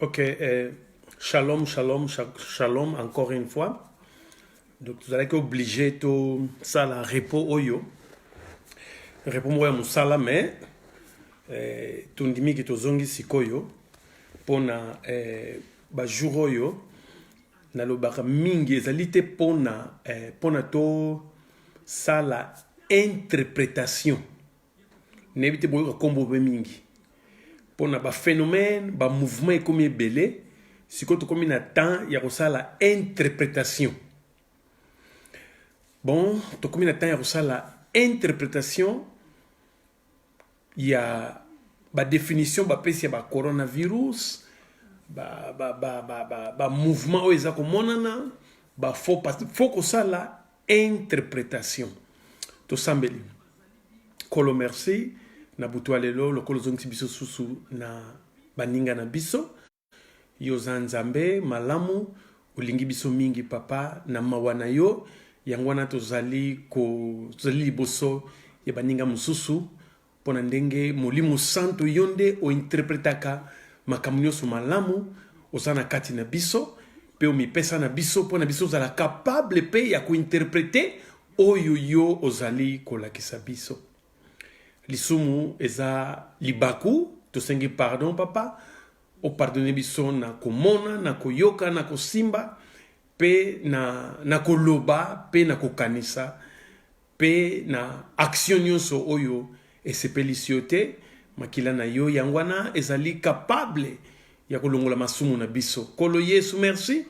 Ok, eh, shalom, shalom, shalom, encore une fois. Donc, vous allez obligé tout ça, la repos oyo. Repos moya musala, mais eh, tondimi ki tozongi sikoyo pona eh, ba jour oyo nalobaka mingi ezali te pona eh, pona to sala interprétation nayebi te boyoka nkombo obe mingi mpo na baphénomène bamouvement ekomi ebele sikoyo tokomi na temps ya kosala interprétation bon tokomi na temps ya kosala interprétation ya badefinition bapesi ya bacoronavirus bamouvement ba, ba, ba, ba, ba oyo eza komonana bafaux fo kosala interpretation tosambeli kolo merci na butu ya lelo lokola ozongisi biso susu na baninga na biso yo oza nzambe malamu olingi biso mingi papa na mawa na yo yango wana tozali kozali liboso ya baninga mosusu mpo na ndenge molimo santu yo nde ointerpretaka makambo nyonso malamu oza na kati na biso mpe omipesa na biso mpo na biso ozala kapable mpe ya kointerprete oyo yo ozali kolakisa biso lisumu eza libaku tosengi pardon papa opardone biso na komona na koyoka na kosimba mpe na, na koloba mpe na kokanisa Mpe na action nyonso oyo esepelisi yo te, makila na yo yango wana ezali capable ya kolongola masumu na biso. Kolo Yesu, merci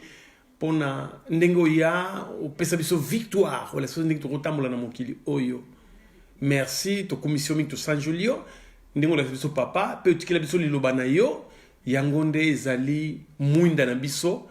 mpo na ndenge oya opesa biso victoire olakisa biso ndenge tokotambola na mokili oyo. Merci, tokumisi yo mingi, tosanjoli yo ndenge olakisa biso papa mpe otikela biso liloba na yo yango nde ezali mwinda na biso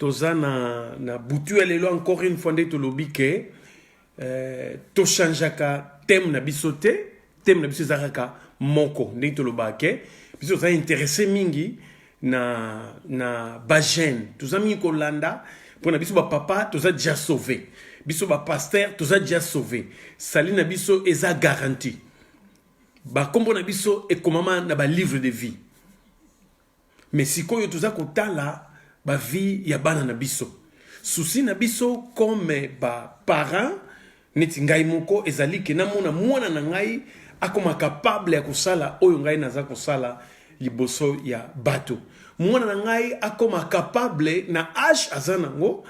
toza na, na butu ya lelo encore une fois nde tolobi ke euh, tochangeaka teme na biso te teme na biso eza kaka moko ndenge tolobaka ke biso toza interesse mingi na, na bagene toza mingi kolanda mpo na biso bapapa toza deja sauve biso bapaster toza deja sauve sali na biso eza garanti bakombo na biso ekomama na balivre de vie Mais sikoyo toza kotala ba vie ya bana na biso. Souci na biso comme ba parents neti ngai moko ezali ke namona mwana na ngai akoma capable ya kosala oyo ngai naza kosala liboso ya bato. Mwana na ngai akoma capable na age aza nango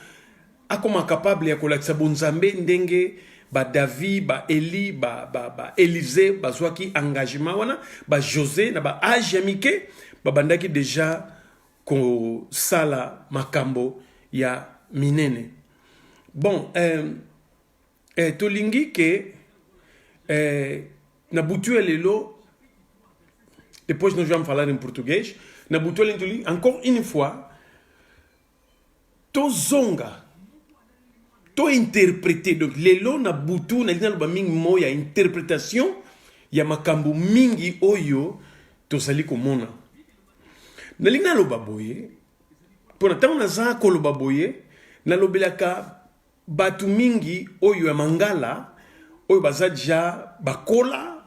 akoma capable ya kolakisa bonzambe ndenge ba David ba Eli ba ba, ba Elise bazwaki engagement wana ba Jose na ba age ya mike babandaki deja kosala makambo ya minene bon eh, eh, tolingi ke eh, na butu ya lelo depois nós vamos falar em português na butu ya lelo encore une fois tozonga to interprete donc lelo na butu nalingi naloba mingi mo ya interpretation ya makambo mingi oyo tozali komona nalingi naloba boye mpo na ntango naza koloba boye nalobelaka Batu mingi oyo ya mangala oyo baza deja bakola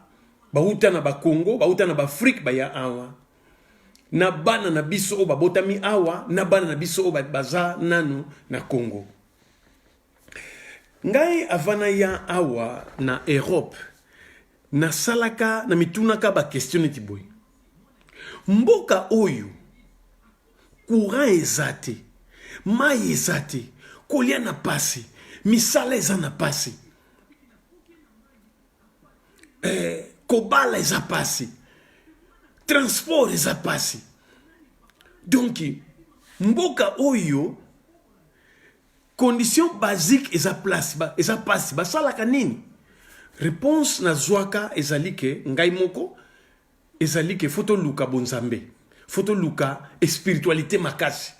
bawuta na bakongo bawuta na baafrike baya awa na bana na biso oyo babotami awa na bana na biso oyo baza nanu na congo ngai avant naya awa na europe nasalaka na mitunaka baquestion neti boye mboka oyo Courant eza te, mayi eza te, kolia na pasi, misala eza na pasi. Eh, kobala eza pasi. Transport eza pasi. Donc mboka oyo condition basique eza place ba, eza pasi basalaka nini? Réponse nazwaka ezali ke ngai moko ezali ke fo toluka bonzambe fo toluka espiritualite makasi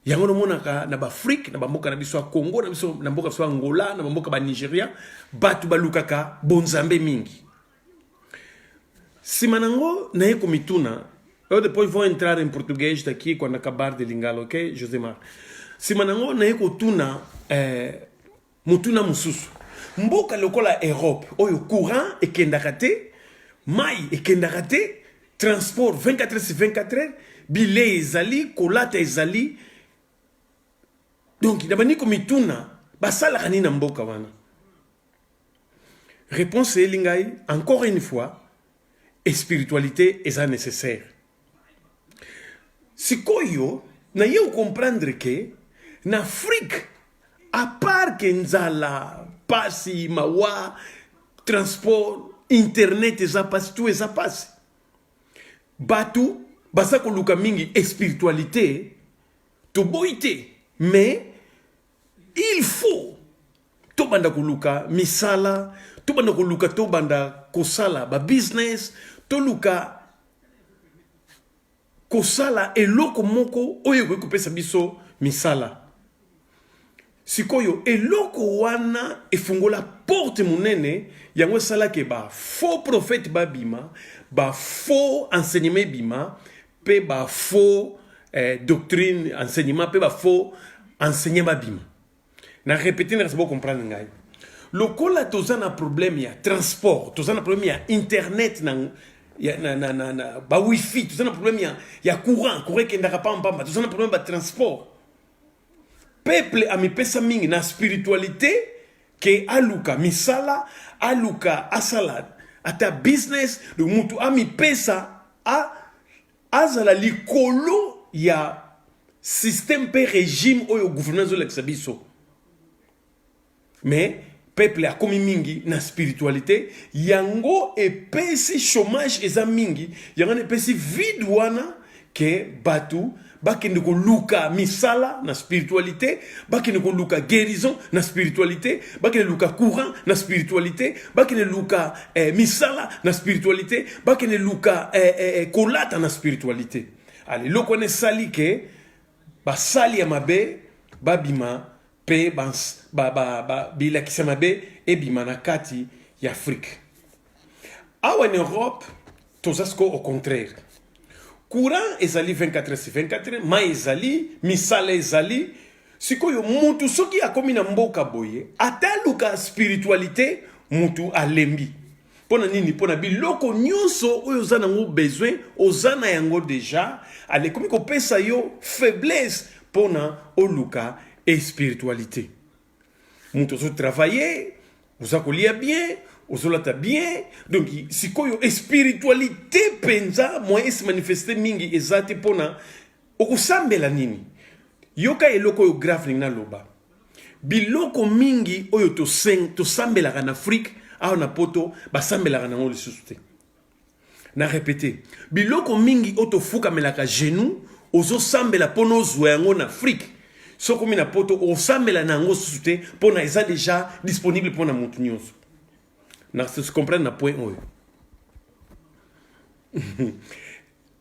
yango nomonaka na baafrike na bamboka na biso ya congo na biso na mboka biso ya angola na bamboka ba nigeria bato balukaka bonzambe mingi nsima na yango naye komituna eu depois vou entrar em português daqui quando acabar de lingala ok josé mar nsima na yango naye kotuna eh, Motuna mosusu, mboka lokola Europe oyo courant ekendaka te, mai ekendaka te, transport 24 heures sur 24 heures, bilei ezali, kolata ezali. Donc nabandi komituna basalaka nini na mboka wana? Réponse eyeli ngai encore une fois, spiritualité eza nécessaire. sikoyo naye okomprendre ke na afrique apart ke nzala pasi mawa transport internet eza pasi tu eza pasi bato baza koluka mingi espiritualité toboyi te mais Il faut tobanda koluka misala, tobanda koluka tobanda kosala ba business, toluka kosala eloko moko oyo ekoki kopesa biso misala. Sikoyo eloko wana efungola porte monene yango esalaki ba faux prophète babima, ba faux enseignement ebima pe ba faux eh, doctrine enseignement pe ba faux enseignant babima na répéter na bo comprendre ngai lokola toza na problème ya transport toza na problème ya internet na ya, na, na, na, na ba wifi toza na problème ya, ya courant courant ekendaka pamba pamba toza na problème ya transport peuple amipesa mingi na spiritualite ke aluka misala aluka asala ata business donc mutu amipesa a, azala likolo ya système mpe régime oyo gouvernement ezolakisa biso mais peuple akomi mingi na spiritualité yango epesi chômage eza mingi yango na epesi vide wana ke bato bakende koluka misala na spiritualité bakende koluka guérison na spiritualité bakende luka courant na spiritualité bakende luka eh, misala na spiritualité bakende luka eh, eh, eh kolata na spiritualité ale eloko wana esali ke basali ya mabe babima mpe bilakisa mabe ebima na kati ya afrike awa na europe toza sikoyo au contraire courant ezali 24 heures 24 heures mai ezali misala ezali sikoyo mutu soki akomi na mboka boye ata aluka spiritualité mutu alembi mpo na nini mpo na biloko nyonso oyo oza nango besoin oza na yango deja alekomi kopesa yo faiblesse mpo na oluka espiritualité moto ozotravaille oza kolia bien ozolata bien donc sikoyo espiritualité mpenza moyen esimanifeste mingi eza te mpo na okosambela nini yoka eloko oyo grave ndenge naloba Biloko mingi oyo toseng tosambelaka na Afrique awa na poto basambelaka nango lisusu te. Na repete, biloko mingi oyo tofukamelaka genou ozosambela mpo nozwa yango na Afrique soki omi na poto okosambela na yango susu te mpo na eza deja disponible mpo na motu nyonso na comprendre na point oyo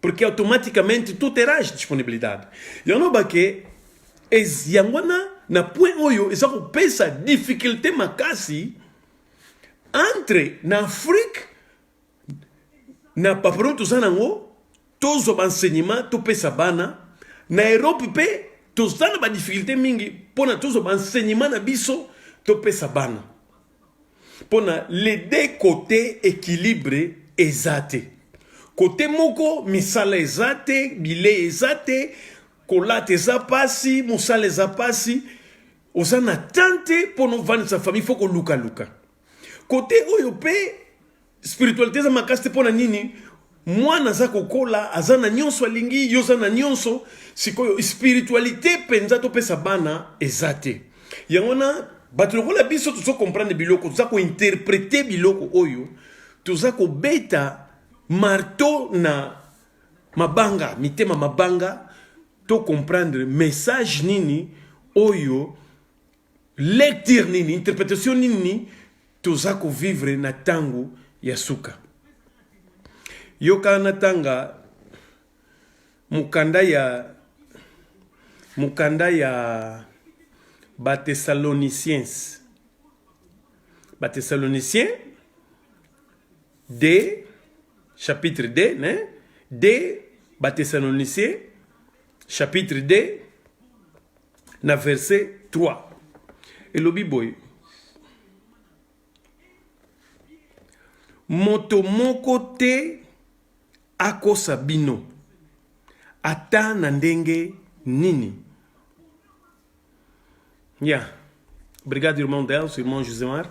Porque automaticamente tu terás disponibilidade. Eu não baque es yangwana na point oyo eza kopesa difficulté makasi entre na Afrique na papillon toza nango tozwa baenseignement topesa bana na Europe mpe toza na badifficulté mingi mpo na tozwa baenseignement na biso topesa bana pona les deux cote equilibre eza te kote moko misala eza te bilei eza te kolata eza pasi mosala eza pasi oza na temps te mpo novandisa famille fo kolukaluka kote oyo mpe spiritualité eza makasi te pona nini mwana aza kokola aza na nyonso alingi yo oza na nyonso sikoyo spiritualité mpenza topesa bana eza te yango wana bato lokola biso tozo comprendre biloko toza kointerprete biloko oyo toza kobeta marto na mabanga mitema mabanga to comprendre message nini oyo Lecture nini, interpretation nini toza ko vivre na tango ya suka? Yoka na tanga mukanda ya mukanda ya ba Thessaloniciens. Ba Thessaloniciens de chapitre 2, ne? De ba Thessaloniciens chapitre 2 na verset 3 elobi boye moto moko te akosa bino ata na ndenge nini ya yeah. brigade urmandel sur mont josemar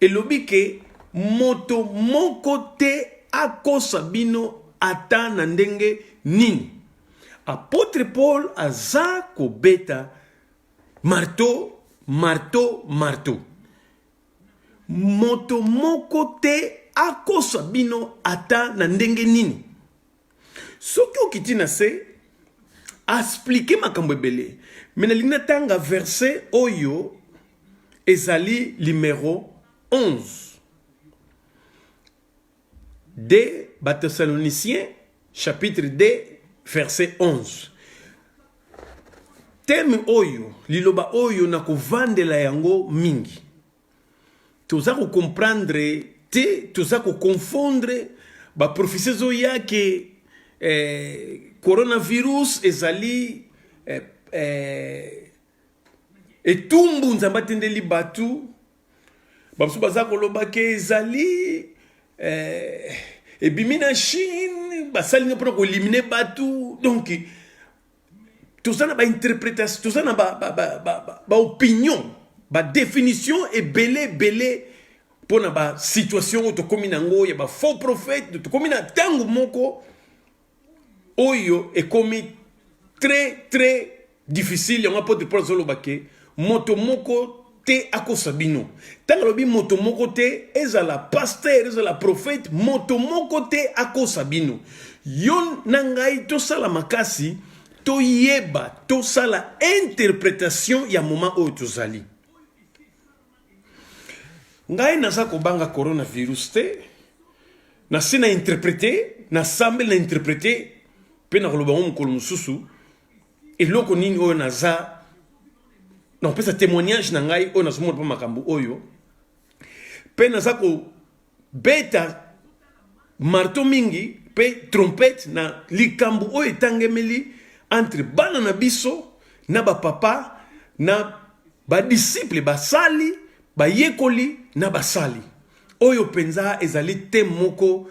Elobi ke moto moko te akosa bino ata na ndenge nini. Apotre Paul aza kobeta marto, marto, marto. Moto moko te akosa bino ata na ndenge nini. soki okiti na se asplike makambo ebele me nalingi natanga verse oyo ezali limero 11 de bathessalonicien chapitre 2 verse 11 teme oyo liloba oyo nakovandela yango mingi toza ko comprendre te toza ko confondre ba prophetie zo ya ke eh, coronavirus ezali eh, eh, etumbu nzambe atindeli bato bamosusu baza koloba ke ezali eh, ebimi na chine basali nde mpona koelimine bato donc toza na ba interpretation toza na ba ba ba ba, ba, ba opinion ba definition ebele ebele mpo na ba situation oyo tokomi na yango ya ba faux prophète tokomi na ntango moko oyo ekomi très très difficile yango apotre paul azoloba ke moto moko te akosa bino ntango alobi moto moko te ezala pastere ezala profete moto moko te akosa bino yo na ngai tosala makasi toyeba tosala interpretation ya moma oyo tozali ngai naza kobanga coronavirus te nasi na interprete nasambeli na interprete mpe nakoloba yango mokolo mosusu eloko nini oyo naza na kopesa témoignage na ngai oyo nazomona mpo makambo oyo mpe naza kobeta marto mingi mpe trompete na likambo oyo etangemeli entre bana na biso na bapapa na badisiple basali bayekoli na basali oyo mpenza ezali te moko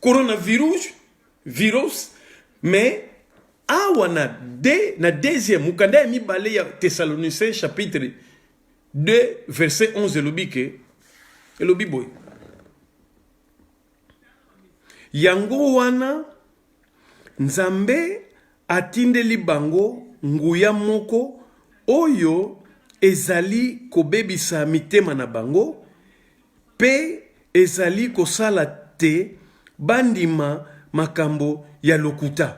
coronavirus virus mais awa na de, na deuxième mokanda ya mibale ya thessaloniciens chapitre 2 verset 11 elobi ke elobi boye yango wana nzambe atindeli bango nguya moko oyo ezali kobebisa mitema na bango Mpe ezali kosala te bandima makambo ya lokuta.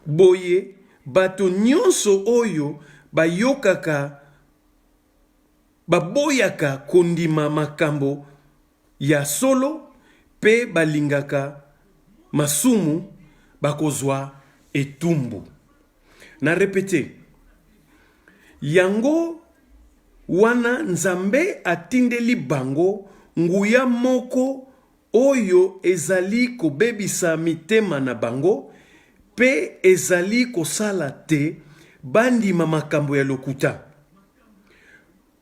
Boye, bato nyonso oyo bayokaka baboyaka kondima makambo ya solo mpe balingaka masumu bakozwa etumbu. Na repete. Yango wana Nzambe atindeli bango nguya moko oyo ezali kobebisa mitema na bango pe ezali kosala te bandima makambo ya lokuta.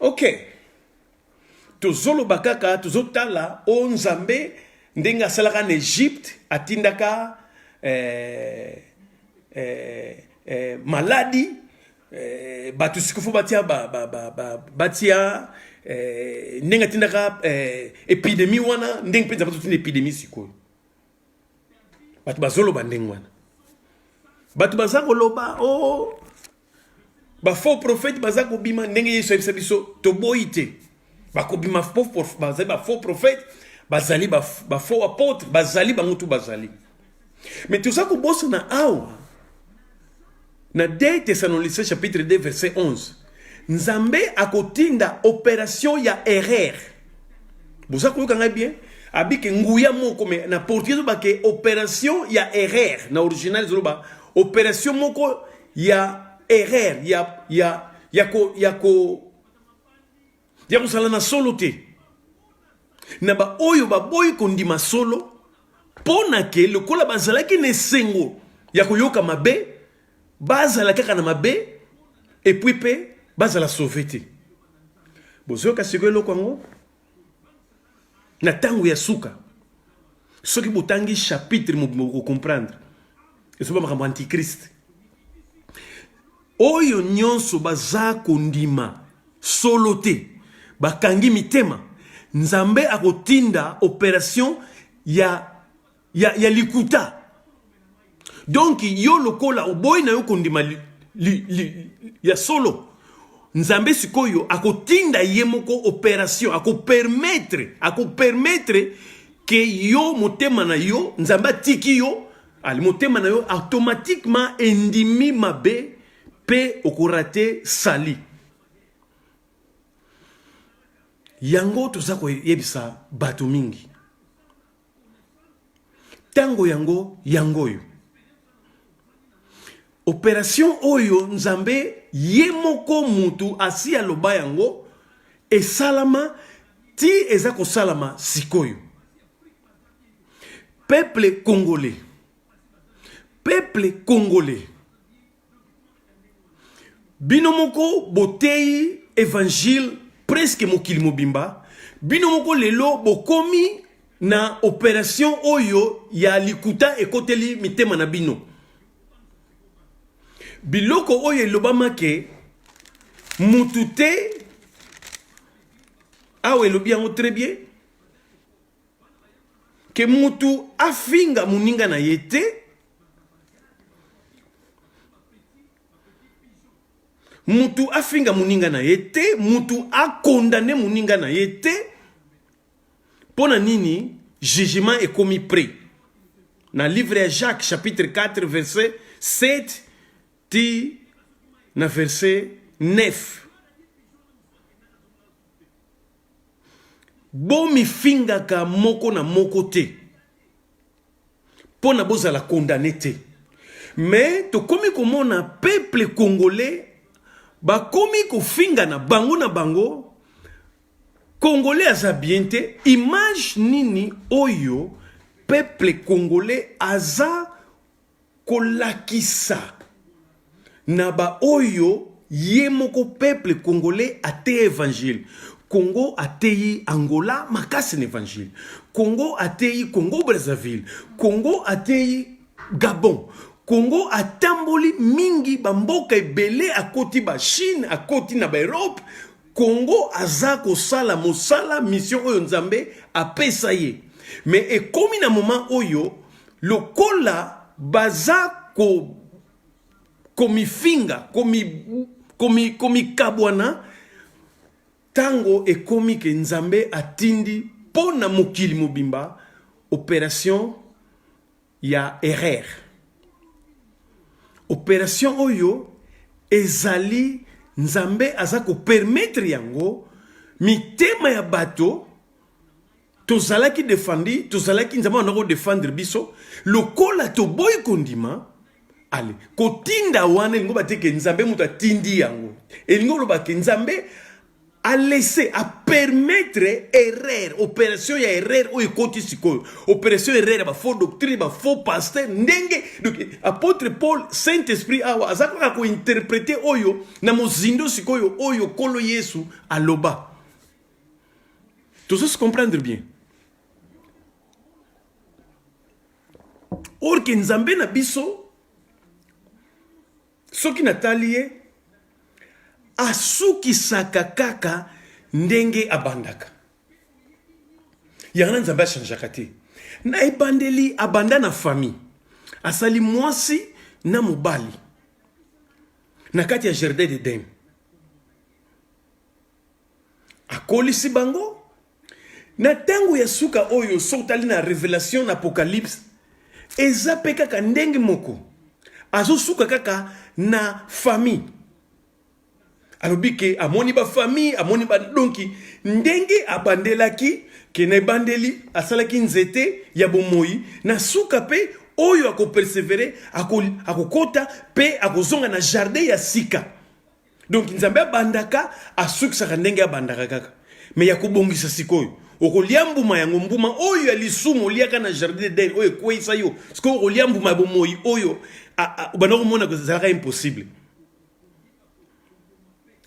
ok tozoloba kaka tozotala o nzambe ndenge asalaka na egypte atindaka eh, eh, eh, maladi eh, bato sikofu batia ba, ba, ba, ba, batia eh, ndenge atindaka eh, epidemi wana ndenge mpenza bazotinda epidemi sikoyo bato bazoloba ndenge wana bato baza koloba o oh, ba faux prophète baza kobima ndenge yesu ayebisa biso toboyi te bakobima bazali ba faux prophète bazali ba faux apôtre bazali bango tu bazali mais toza kobosana awa na 2 thessaloniciens chapitre 2 verset 11 nzambe akotinda opération ya erreur boza koyoka ngai bien abike nguya moko me na portugais ezobake opération ya erreur na original ezoloba opération moko ya erreur ya ya ya ko ya ko ya kozala na solo te na baoyo baboyi kondima solo mpo na ke lokola bazalaki na esengo ya koyoka mabe bazala kaka na mabe epui mpe bazala sauve te bozoyoka sikoyo eloko yango na ntango ya suka soki botangi chapitre mobimba bokocomprendre ezoba makambo antichrist oyo nyonso baza kondima solo te bakangi mitema nzambe akotinda operation ya ya, ya likuta donc yo lokola oboyi na yo kondima li, li, li, ya solo nzambe sikoyo akotinda ye moko operation akopermetre akopermetre ke yo motema na yo nzambe atiki yo ali motema na yo automatiquement endimi mabe mpe okorate sali yango toza koyebisa bato mingi Tango yango yango oyo. Operation oyo Nzambe ye moko mutu asi aloba yango esalama ti eza kosalama sikoyo. Peuple congolais. Peuple congolais. bino moko boteyi evangile presque mokili mobimba bino moko lelo bokomi na operation oyo ya likuta ekoteli mitema na bino biloko oyo elobamake mutu te awa elobi yango très bien ke mutu afinga moninga na ye te mutu afinga moninga na ye te mutu akondane moninga na ye te mpo na nini jugement ekomi près na livre ya jacques chapitre 4 verset 7 ti na verset 9 Bomifingaka moko na moko te pona bozala condamne te mais tokomi komona peuple congolais bakomi kofingana bango na bango congolais aza bien te image nini oyo peuple congolais aza kolakisa na ba oyo ye moko peuple congolais ateya evangile Congo ateyi Angola makasi na evangile Congo ateyi Congo Brazzaville Congo ateyi Gabon Congo atamboli mingi bamboka ebele akoti ba Chine akoti na ba Europe Congo aza kosala mosala mission oyo Nzambe apesa ye mais ekomi na moment oyo lokola baza ko komifinga komi komi komikabwana tango ekomi ke Nzambe atindi mpo na mokili mobimba operation ya erreur operation oyo ezali nzambe aza kopermetre yango mitema ya bato tozalaki defandi tozalaki nzambe wana kodefendre biso lokola toboyi kondima ale kotinda wana elingi obateke nzambe moto atindi yango elingi olobake nzambe a laisser a permettre erreur operation ya erreur oyo ekoti sikoyo operation erreur ya ba faux doctrine ba faux pasteur ndenge donc apôtre paul saint esprit awa aza kaka kointerprete oyo na mozindo sikoyo oyo nkolo yesu aloba tozosi comprendre bien orke nzambe na biso Soki natali ye asukisaka kaka ndenge abandaka. Yango na Nzambe achangeaka te. Na ebandeli abanda na famille. Asali mwasi na mobali na kati ya jardin d'Eden. akolisi bango na ntango ya suka oyo soki otali na revelation na apocalypse eza mpe kaka ndenge moko azosuka kaka na famille alobi ke amoni bafamille amoni badonki ndenge abandelaki ke na ebandeli asalaki nzete ya bomoi na suka mpe oyo akopersevere akokota mpe akozonga na jardin ya sika donc nzambe abandaka asukisaka ndenge abandaka kaka me ya kobongisa sikoyo okolia mbuma yango mbuma oyo ya lisumu oliaka na jardin eden oyo ekweisa yo sikoyo okolia mbuma ya bomoi oyo obanda komona ezalaka impossible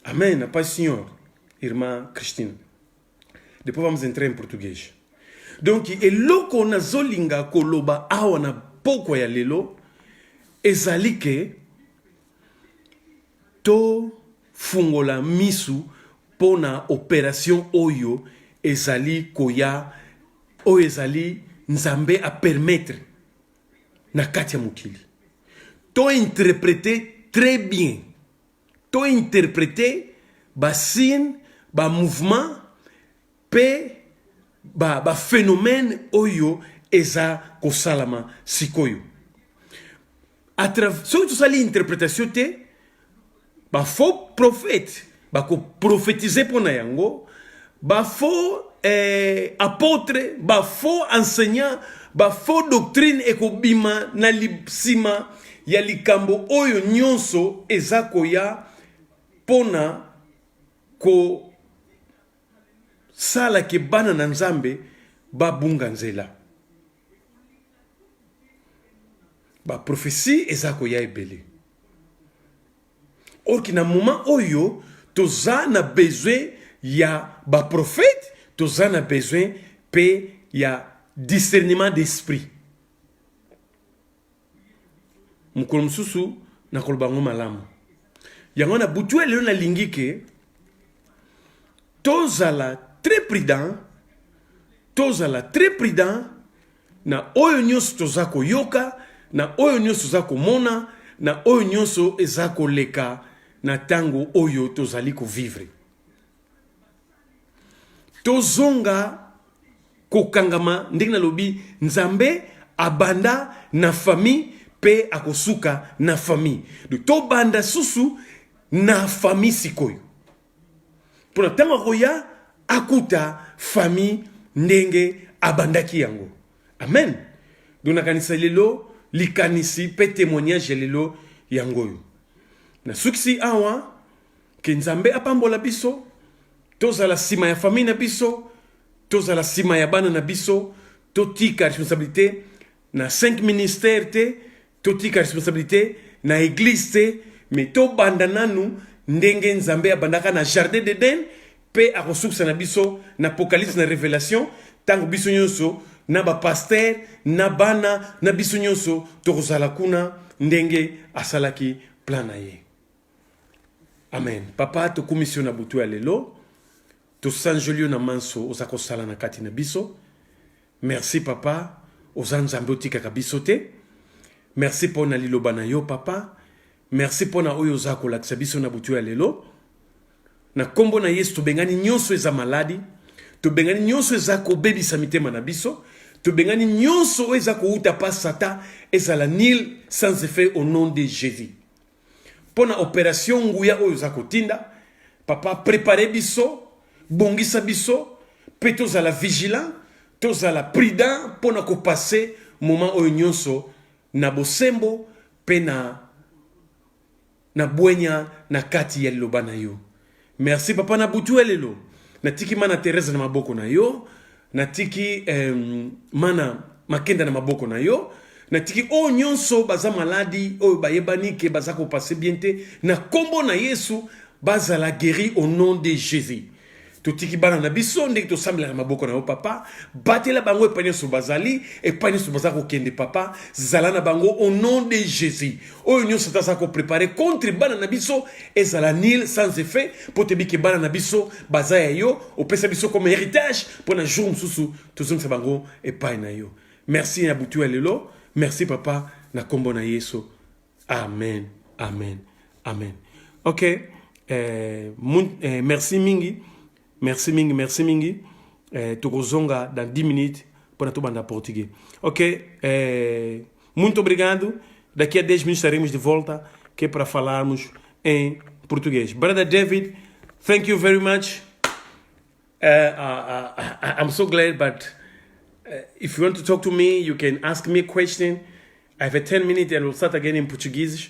amen pai senhor irmã cristina depois vamos entrar em português donc eloko nazolinga koloba awa na pokwa ya lelo ezali ke To fungola misu pona operation oyo ezali koya oyo ezali nzambe a permettre na kati ya mokili. To interprete tres bien. To interprete ba signe ba mouvement mpe baphénomène ba oyo eza kosalama sikoyo soki tosali interprétation te bafaux prophète bakoprofetize mpo na yango bafaux eh, apôtre bafaux enseignant bafaux doctrine ekobima na nsima ya likambo oyo nyonso eza koya mpo na ko sala ke bana na nzambe babunga nzela baprofesi eza koya ebele orki na moment oyo toza na besoin ya baprofete toza na besoin mpe ya discernement d'esprit mokolo mosusu nakoloba yango malamu yango wana butu ya lelo nalingi ke tozala très prudent tozala très prudent na oyo nyonso toza koyoka na oyo nyonso toza komona na oyo nyonso eza koleka na ntango oyo tozali kovivre Tozonga kokangama ndenge nalobi Nzambe abanda na famille pe akosuka na famille. Donc tobanda susu na famille sikoyo. Pona tango akoya akuta famille ndenge abandaki yango. Amen. Donc nakanisa lelo likanisi pe temoignage ya lelo yango oyo. Nasukisi awa Ke Nzambe apambola biso, tozala sima ya famille na biso, tozala sima ya bana na biso, totika responsabilité na 5 ministères te, totika responsabilité na église te, mais tobanda nanu ndenge Nzambe abandaka na jardin d'Eden pe akosukisa na biso na apocalypse na révélation tango biso nyonso na ba pasteur na bana na biso nyonso tokozala kuna ndenge asalaki plan na ye. amen papa tokumisi yo na butu ya lelo tosanjoli yo na manso oza kosala na kati na biso merci papa oza nzambe otikaka biso te merci mpo na liloba na yo papa merci mpo na oyo oza kolakisa biso na butu ya lelo na nkombo na yesu tobengani nyonso eza maladi tobengani nyonso eza kobebisa mitema na biso tobengani nyonso oyo eza kowuta pa satan ezala nil sans effet au nom de jésus mpo na operation nguya oyo oza kotinda papa prepare biso bongisa biso mpe tozala vigilant tozala prudent mpo na kopase moment oyo nyonso na bosembo mpe na na bwenya na kati ya liloba na yo Merci papa na butu ya lelo natiki mana Therese na maboko na yo natiki eh, mana makenda na maboko na yo natiki oyo oh, nyonso baza maladi oyo oh, bayebani ke baza kopase bien te na nkombo na yesu bazala guéri au nom de jésus totiki bana na biso ndenge tosambelaka maboko na yo papa batela bango epai nyonso bazali epai nyonso baza kokende papa zala na bango au nom de jésus oyo nyonso ata aza koprepare contre bana na biso ezala nil sans effet mpo toyebi ke bana na biso baza ya yo opesa biso comme héritage mpo na jour mosusu tozongisa bango epai na yo merci ya butu ya lelo merci papa na nkombo na yesu amen amen amen ok eh, mun, eh, merci mingi Merci mingi, merci mingi. Eh, tokozonga dans 10 minutes para tobanda português. Ok, eh, muito obrigado. Daqui a 10 minutos estaremos de volta, que é para falarmos em português. Brother David, thank you very much. Uh, uh, uh, I'm so glad, but uh, if you want to talk to me, you can ask me a question. I have a 10 minutes and we'll start again in Portuguese.